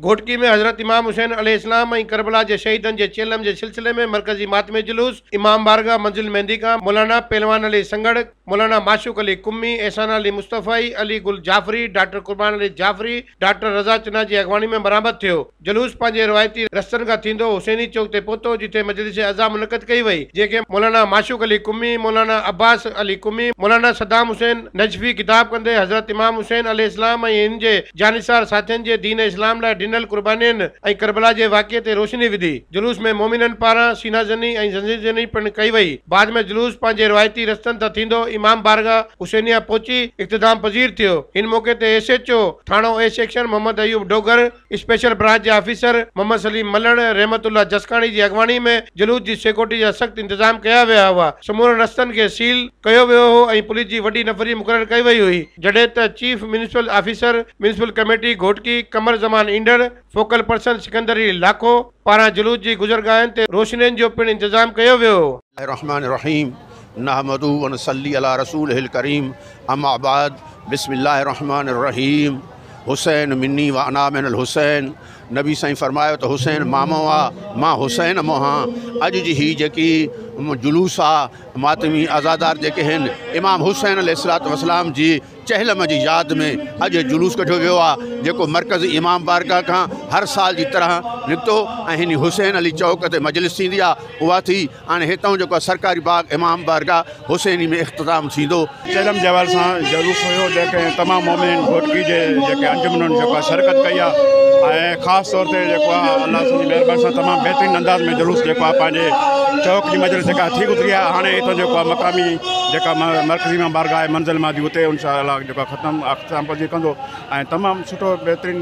گهوٽڪي ۾ حضرت امام حسين عليه السلام ۽ ڪربلا جي شهيدن جي چيلم جي سلسلي ۾ مرڪزي ماتمي جلوس امام بارگاهه منزل مهندي کان مولانا پهلوان علي سنگهڙ، مولانا معشوق علي قمي، احسان علي مصطفائي، علي گل جعفري، ڊاڪٽر قربان علي جعفري، ڊاڪٽر رضا چنا جي اڳواڻي ۾ برآمد ٿيو. جلوس پنهنجي روايتي رستن کان ٿيندو حسيني چوڪ تي پهتو جتي مجلس عزا منعقد ڪئي وئي جنهن کي مولانا معشوق علي قمي، مولانا عباس علي قمي، مولانا صدام حسين نجفي خطاب ڪندي حضرت امام حسين عليه السلام ۽ ان جي جانثار ساٿين جي دين اسلام لاء ڏنل قربانين ۽ ڪربلا جي واقعي تي روشني وڌي. جلوس ۾ مومنن پاران سينا زني ۽ زنجير زني پڻ ڪئي وئي. بعد ۾ جلوس پنهنجي روايتي رستن تان ٿيندو امام بارگاھ حسينيه پهچي اختتام پذير ٿيو. ان موقعي تي ايس ايڇ او ٿاڻو A section Muhammad Ayub Dogar, special branch جي آفيسر محمد سليم ملڻ، رحمت الله جسڪاڻي جي اڳواڻي ۾ جلوس جي سيڪورٽي جا سخت انتظام ڪيا ويا هئا، سمورن رستن کي سيل ڪيو ويو هو ۽ پوليس جي وڏي نفري مقرر ڪئي وئي هئي. جڏهن ته chief municipal officer municipal committee Ghotki Qamar Zaman Indhar, focal person Sikandar Ali Lakho, پاران جلوس جي گذرگاهن تي روشنين جو پڻ انتظام ڪيو ويو هو. الرحمٰن الرحيم نحمده ونصلي علي رسوله الڪريم اما بعد بسم الله الرحمٰن الرحيم حسين مني وانا من الحسين نبي سائين فرمايو ته حسين مامو آ مان حسين موهان اڄ جي هي جيڪي جلوس آ ماتمي عزادار جيڪي هن امام حسين عليه السلام جي چهلم جي ياد ۾ اڄ هي جلوس ڪڍيو ويو آهي جيڪو مرڪز امام بارگاهه کان هر سال جي طرح نڪتو ۽ هينئر حسين علي چوڪ تي مجلس ٿيندي آهي اها ٿي هاڻي هتئون جيڪو سرڪاري باغ امام بارگاهه حسيني ۾ اختتام ٿيندو. چهلم جي حوالي سان جلوس ويو جنهن کي تمام مؤمنين گهوٽڪي جي جيڪي انجمنن جيڪو آهي شرڪت ڪئي آهي ۽ خاص طور تي جيڪو آهي الله سون جي مهرباني سان تمام بهترين انداز ۾ جلوس جيڪو آهي پنهنجي چوڪ جي مجلس جيڪا ٿي گذري آهي هاڻي هتئون جيڪو آهي مقامي جيڪا مرڪزي مان بارگاھ آھي منزل مان جي اتي انشاء الله جيڪو ختم اختتام پذير ڪندو ۽ تمام سٺو بهترين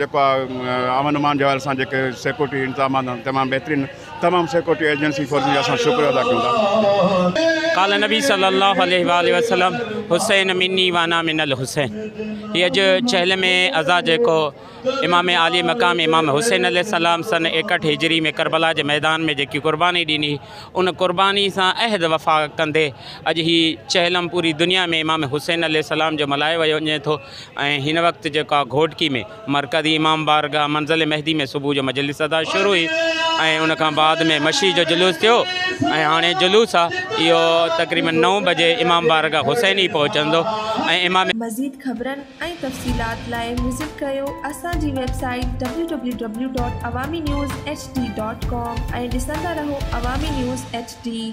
جيڪو آ امن امان جي حوالي سان جيڪي سيڪورٽي انتظامات آھن تمام بهترين تمام سيڪورٽي ايجنسي فورسز جا اسان شڪر ادا ڪيون ٿا. قال نبي صلي الله عليه واٰله وسلم حسين مني وانا من الحسين هي اڄ چهل مي ازا جيڪو امام عالي مقام امام حسين عليه السلام سن ايڪهٺ هجري ۾ ڪربلا جي ميدان ۾ جيڪي قرباني ڏني ان قرباني سان عهد وفا ڪندي اڄ هي چهلم پوري دنيا ۾ امام حسين عليه السلام جو ملهايو ويو وڃي ٿو ۽ هن وقت جيڪو آ گهوٽڪي ۾ مرڪزي امام بارگاهه منزل مهدي ۾ صبح جو مجلس ادا شروع هئي ۽ ان کان بعد ۾ مشي جو جلوس ٿيو ۽ هاڻي جلوس آ اهو تقريبن نو بجي امام بارگاهه حسيني پهچندو ۽ امام مزيد خبرن ۽ تفصيلات لاء وزٽ ڪريو اسان جي website W W W dot Awami news H D dot com ۽ ڏسندا رهو عوامي نيوز ايڇ ڊي.